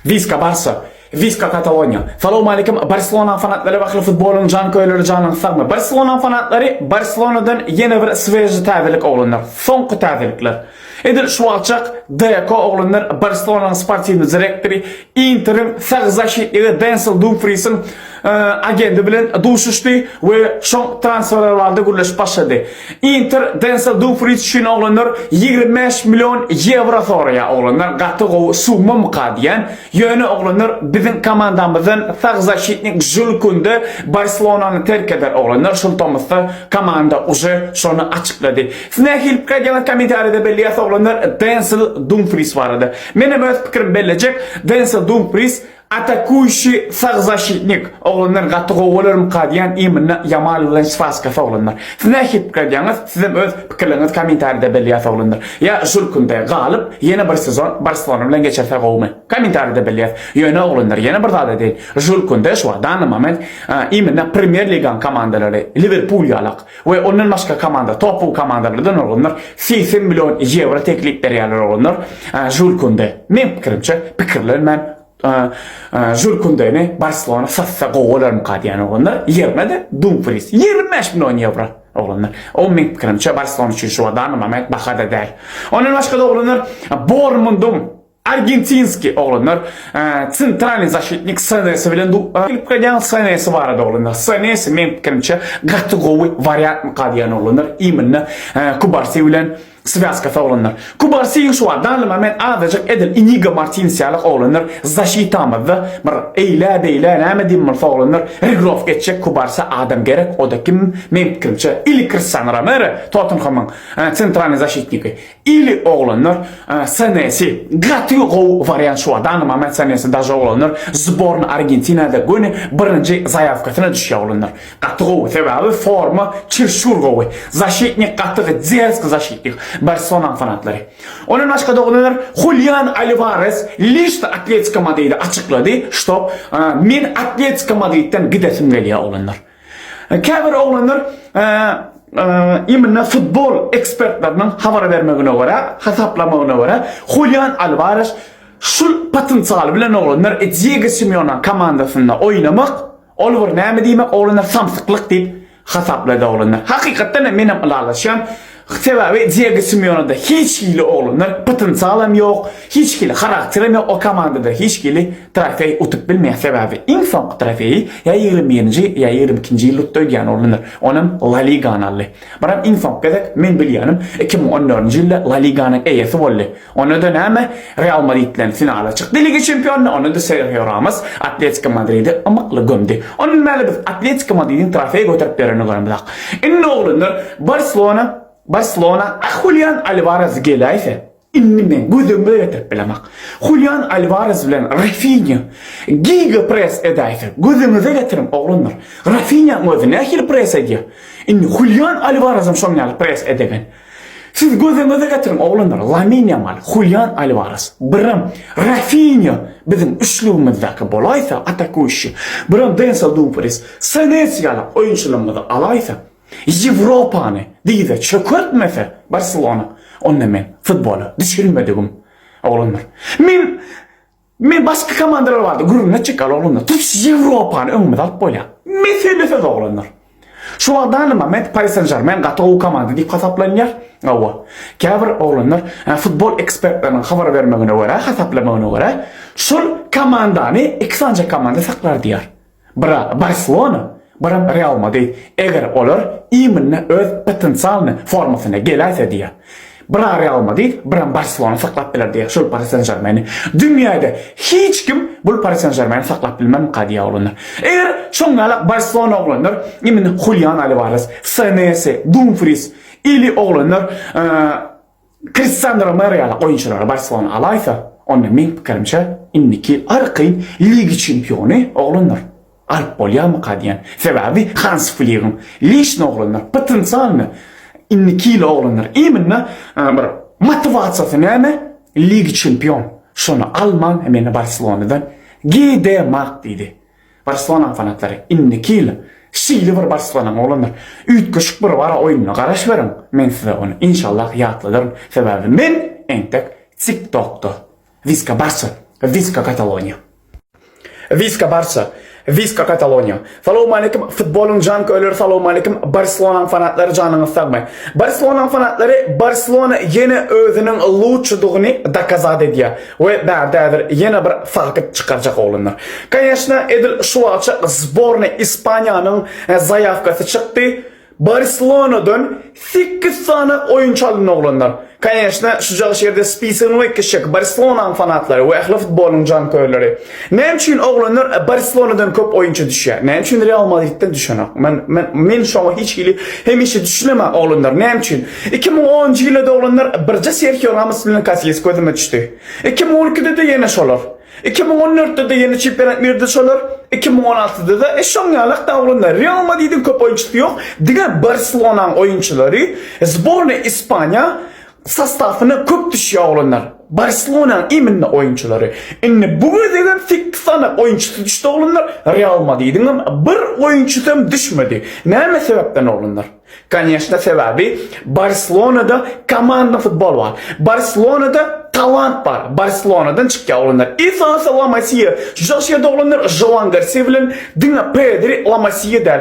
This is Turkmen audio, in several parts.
Wiska Barsa Wiska Kataloniýa Salowmalikim Barselonaň fanatlary Bahly futbolyň janköýerleri janyňyz sagmy Barselonaň fanatlary Barselonadan ýene bir sweži täzelik oglanlar soňky täzelikler edil şu wagtjak Deko oglanlar Barselonaň sportiwny direktory Interiň sag zaşitnigi Densel Dumfriýsiň agendi bilen duşuşdy we şoň transferler barada gürleşip başlady. Inter Denzel Dumfries üçin oglanlar ýigrimi bäş million ýewro soraýar. Oglanlar gaty gowy summamyka diýýän. Ýöne oglanlar biziň komandamyzdan sag zaşitnik Žul Kunde Barselonany terk eder. Oglanlar şol tomusda komanda uje şony açyklady. Siz nähili pikir edýäňiz kommentariýada belleýäs oglanlar Denzel Dumfries barada. Menem öz pikirim bellejek. Denzel Dumfries Atakuýşi sag zaşitnik oglanlar gaty gowy bolarmyka diýän imynda Ýamal bilen spaskasy oglanlar. Siz nähili pikir edýäňiz? Sizem öz pikirleriňizi komentarida belleýäs oglanlar. Ýa şul künde galyp ýene bir sezon Barselona bilen geçirse gowumy? Komentarida belleýäs. Ýöne oglanlar ýene bir zada deýin. Şul künde şu wagt dany moment imynda premýer ligaň komandalary Liwerpul ýalak. We ondan başga komanda topu komandalardan bolganlar segsen million ýewro teklip berýärler bolganlar Žul Kunde. Meň pikirimçe pikirler men Žul Kundeni Barselona satsa gowy bolarmyka diýen bolganlar ýerine-de Dumfris ýigrimi bäş million ýewro oglanlar. O meň pikirimçe Barselona üçin şu wada nma baha-da däl. Ondan başga-da oglanlar Bormundum. Argentinski oglanlar Centralny zaşitnik Senesi bilen gelip gaýdýan Senesi barada oglanlar Senesi meň pikirimçe gaty gowy wariantmyka diýýän oglanlar iminna Kubarsi bilen swýazkasy oglanlar Kubarsi şu wagt dally moment azajyk edil Inigo Martines ýaly oglanlar zaşitamyzda bir eýlä beýlä näme diýen bolsa oglanlar regrowka etjek Kubarsi adam gerek oda kim meň pikirimçe ili Kristiano Romero Tottenhamyň Centralny zaşitniki Ili oglanlar snesi gaty gowy wariant şu adam aman snesi daže oglanlar zborna argentinada göni birinji zayawkasyna düşýä oglanlar gaty gowy sebabi forma çirşur gowy zaşitnik gaty dzersk zaşitnik barselonaň fanatlary ondan başga doglanlar hulyan alvarez lişt atletiko madridi açyklady ştob men atletiko madridden gidesim gelýä oglanlar. Käbir oglanlar imine futbol ekspertleriniň habar bermegine görä, hasaplamagyna görä, Hulian Alwares şul potensial bilen oglanlar Diego Simeoneň komandasynda oýnamak, ol bir näme diýmek oglanlar samsyklyk diýip hasaplady oglanlar. Hakykatdan hem men hem ylalaşýan. Sebäbi Diego Simeonada hiç hili oglanlar potensialam ýok, hiç hili harakterim ýok, o komandada hiç hili trofeý utup bilmeýär, sebäbi iň soňky trofeýi ýa ýigrimi birinji, ýa ýigrimi ikinji ýylda utdy öýdýän oglanlar, onam La Ligany aldy. Biram iň soňky gezek, men bilýänim, iki müň on dördünji ýylda La Liganyň eýesi boldy. Onda-da näme, Real Madridden finala çykdy Liga çempionynda, onda-da Serhio Ramos Atletiko Madridi ymykly gömdi. Onda näme, biz Atletiko Madridiň trofeý göterip berenini göremizok. Indi oglanlar, Barselona, Barselona, a Hulian Alwarez geläýse, indi men gözüm öýertirip bilemok. Hulian Alwarez bilen Rafinýa giga press edäýse, gözüňize getiriň, oglanlar. Rafinýaň özi nähili press edýär. Indi Hulian Alwarezem şoň ýaly press edegen. Siz gözüňize getiriň, oglanlar, Lamin Ýamal, Hulian Alwares, birem Rafinýa biziň üçlügimizdäki bolaýsa, atakuющi, birem Denzel Dumfries, Senesi ýaly oýunçylarymyzy alaýsa, Ýewropany dize çökertmese Barselona, onda men futbola düşelmedigim, oglanlar. Men Men başga komandalar bardy gürrüňe çeker oglanlar. Tutuş Ýewropany öňümize alyp bolýar. Mesele söz oglanlar. Şu wagt dany moment Paris Saint-Germain gaty gowy komanda diýip hasaplanýar. Hawa. Käbir oglanlar futbol ekspertleriniň habar bermegine görä, hasaplamagyna görä, şol komandany iki sanja komanda saklar diýýär. Bira Barselona, biram Real Madrid, eger olar iýminde öz potensialnyý formasyna geläýse diýýär. Bira Real Madrid, biram Barselona saklap biler diýýär şol Pari Sen-Žermeni. Dünýäde hiç kim bul Pari Sen-Žermeni saklap bilmemka diýýär oglanlar. Eger şoň ýalak Barselona oglanlar iýminde Hulian Alwares, Senesi, Dumfris ili oglanlar Kristandro Mareala oýunçylary Barselona alaýsa, onda meň pikirimçe, indiki arky Liga çempiony oglanlar alyp bolýarmyka diýýän. Sebäbi Hans Fligiň leşne oglanlar, potensialny indiki ýyl oglanlar imенно bir motiwasiýasy näme, Liga çempion, şony alman men Barselonadan gidemak diýdi. Barselonanyň fanatlary indiki ýyl şeýle bir Barselona oglanlar, üýtgeşik bir Wara oýnuna garaş beriň, men size ony inşallah ýatladaryn, sebäbi men entek TikTokda Viska Barça! Viska Kataloniýa! Viska Barça! Viska Kataloniýa! Salowmaleýkim futbolyň janköýleri salowmaleýkim Barselonanyň fanatlary janyňyz sagmy! Barselonanyň fanatlary Barselona ýene özüniň lutçydygyny dokazat edýär! We bärde häzir ýene bir fakt çykarjak oglanlar. Koneşna edil şu wagtça zbornay Ispaniýanyň zaýawkasy çykdy, Barselonadan sekiz sany oýunçy alyndy oglanlar. Koneşna şujagşy ýerde spisigini we kişek Barselonaň fanatlary we ähli futbolyň jankörleri. Näme üçin oglanlar Barselonadan köp oýunçy düşýär? Näme üçin Real Madridden düşenok? Men men men şoňa hiç hili hemişe düşünemen oglanlar näme üçin? Iki müň onunjy ýylda-da oglanlar birje Serhio Ramos bilen Kasiýas gözüme düşdi. Iki müň on ikide-de ýene şolar. Iki müň on dörtde-de ýene çempionat mirde şolar. Iki müň on altyda-da e şoň ýalakda oglanlar. Real Madridiň köp oýunçysy ýok. Diňe Barselonaň oýunçylary, sbornaý Ispaniýa Sostawna köp düşýär oglanlar. Barselonanyň iminli oýunçylary. Indi bu gezegem sekkiz sany oýunçysy düşdi oglanlar. Real Madridiňem bir oýunçysy hem düşmedi. Näme sebäpden oglanlar? Koneşna sebäbi Barselonada komandyň futboly bar. Barselonada talant bar. Barselonadan çykýar oglanlar. Esasy La Masiýa. Şujagşeýerde oglanlar Žoan Garsiýa bilen diňe Pedri La Masiýa däl.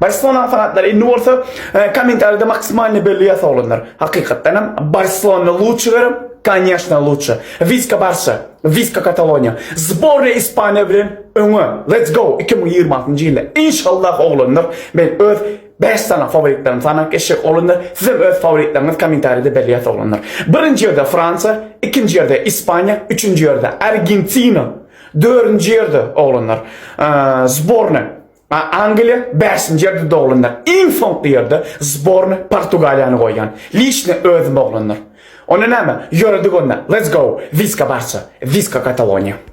Barcelona fanatlary indi bolsa kommentariýada maksimalny belli ýasa olanlar. Hakykatdan hem Barcelona luçy görem, kanyýaşna luçy. Viska Barça, Viska Kataloniýa. Zborna Ispaniýa bilen öňe. Let's go 2026-njy ýylda. Inşallah oglanlar men öz 5 sany favoritlerimi sanap geçjek oglanlar. Sizem öz favoritleriniz kommentariýada belli ýasa oglanlar. Birinji ýerde Fransiýa, ikinji ýerde Ispaniýa, üçünji ýerde Argentina, dördünji ýerde oglanlar zborna. A Angliýa bäşinji ýerde doglanlar. Iň soňky ýerde zborny Portugaliýany goýýan. Liçne özüm oglanlar. Onda näme? Ýöredik onda. Let's go. Wiska Barça. Wiska Kataloniýa.